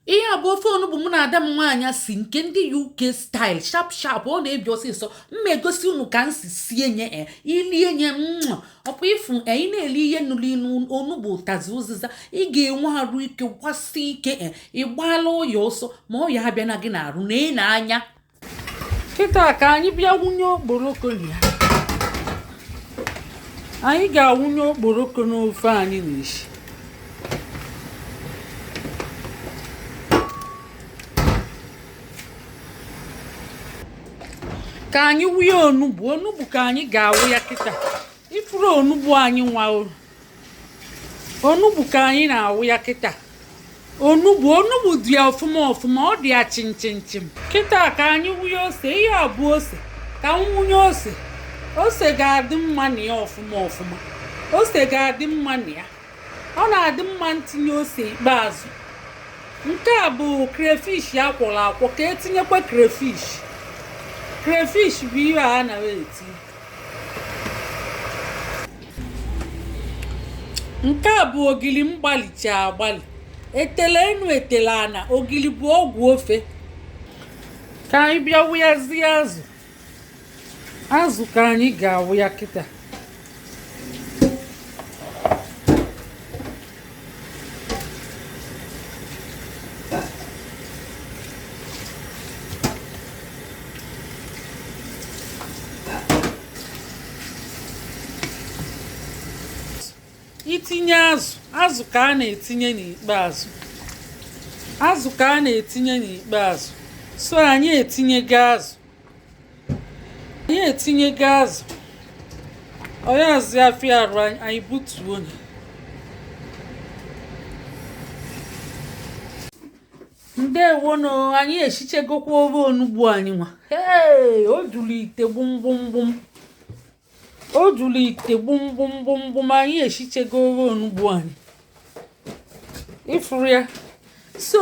ihe a bụ ofe onugbu mụ na ada m nwaanyị si nke ndị uk style sharp sharp ọ na-ebi ọsịsọ mma egosi unu ka m si sie nye e ilie nye ọkwa ịfụ e, ị na-eli ihe nuru inu onugbu ụtazi ụzịza ị ga-enwe arụ ike gbasi ike e ị gbaala ọya ọsọ ma ọya abịana gị n'arụ na ị na-anya kịta ka anyị bịa wụnye okporoko na ya anyị ga-awụnye okporoko n'ofe anyị na-esi ka anyị wụnye onugbu onugbu ka anyị ga-awụ ya kịta ị fụrụ onugbu anyị nwa onugbu ka anyị na-awụ ya kịta onugbu onugbu dị ya ọfụma ọfụma ọ dị ya chimchimchim kịta ka anyị wụnye ose ihe a bụ ose ka m wụnye ose ose ga-adị mma na ya ọfụma ọfụma ose ga-adị mma na ya ọ na-adị mma ntinye ose ikpeazụ nke a bụ crayfish a kwọrọ akwọ ka etinyekwa crayfish crayfish bụ ihe a na-eti nke a bụ ogili m gbalicha agbali etele enu etele ana ogili bụ ọgwụ ofe ka anyị bịa wụyazie azụ azụ ka anyị ga-awụ ya kịta i tinye azụ azụ ka a na-etinye n'ikpeazụ azụ ka a na-etinye n'ikpeazụ so anyị etinyego azụ anyị etinyego azụ ọ yazị afịa arụ anyị butuo nye ndewonu anyị esichegokwa ofe onugbu anyị nwa ee o juru ite gbumgbumgbum o juru ite gbumgbumgbumgbum anyị esichego ofe onugbu anyị ị fụrụ ya so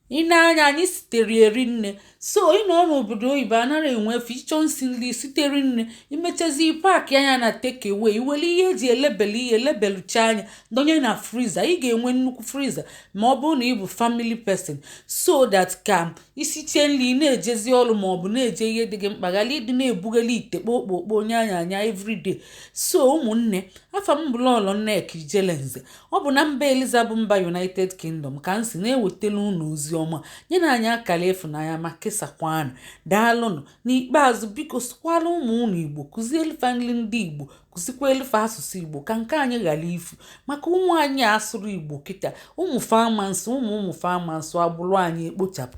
i ne anya anyị sitere erinne so ị nọ n'obodo oyibo anaghị enwe efe ị chọọ nsi nri site rinne i mechazi packịa nya na takeaway i were ihe eji elebele ihe lebeluchaa nya donye na freezer ị ga-enwe nnukwu freezer ma ọ bụrụ na ị bụ family person so that ka i siche nri na-ejezi ọrụ ma ọ bụ na-eje ihe dị gị mkpa ghara ịdị na-ebugheli ite kpokpokpo onye anya anya everyday so ụmụnne afa m bụ lọlọ nneka ijelenze Ọ bụ na mba Eliza bụ mba United Kingdom ka m si na-ewetara unu ozi ọma nyenụ anyị akala ịfụnanya ma kesakwanụ daalụnụ n'ikpeazụ biko sụkwalụ ụmụ unu Igbo kụzielụ fa nli ndị Igbo kụzikwelụ fa asụsụ Igbo ka nke anyị ghalụ ifu maka ụmụ anyị asụrọ Igbo kịta ụmụ fa ama na-asụ ụmụ ụmụ fa ama na-asụ agbụrụ anyị ekpochapụ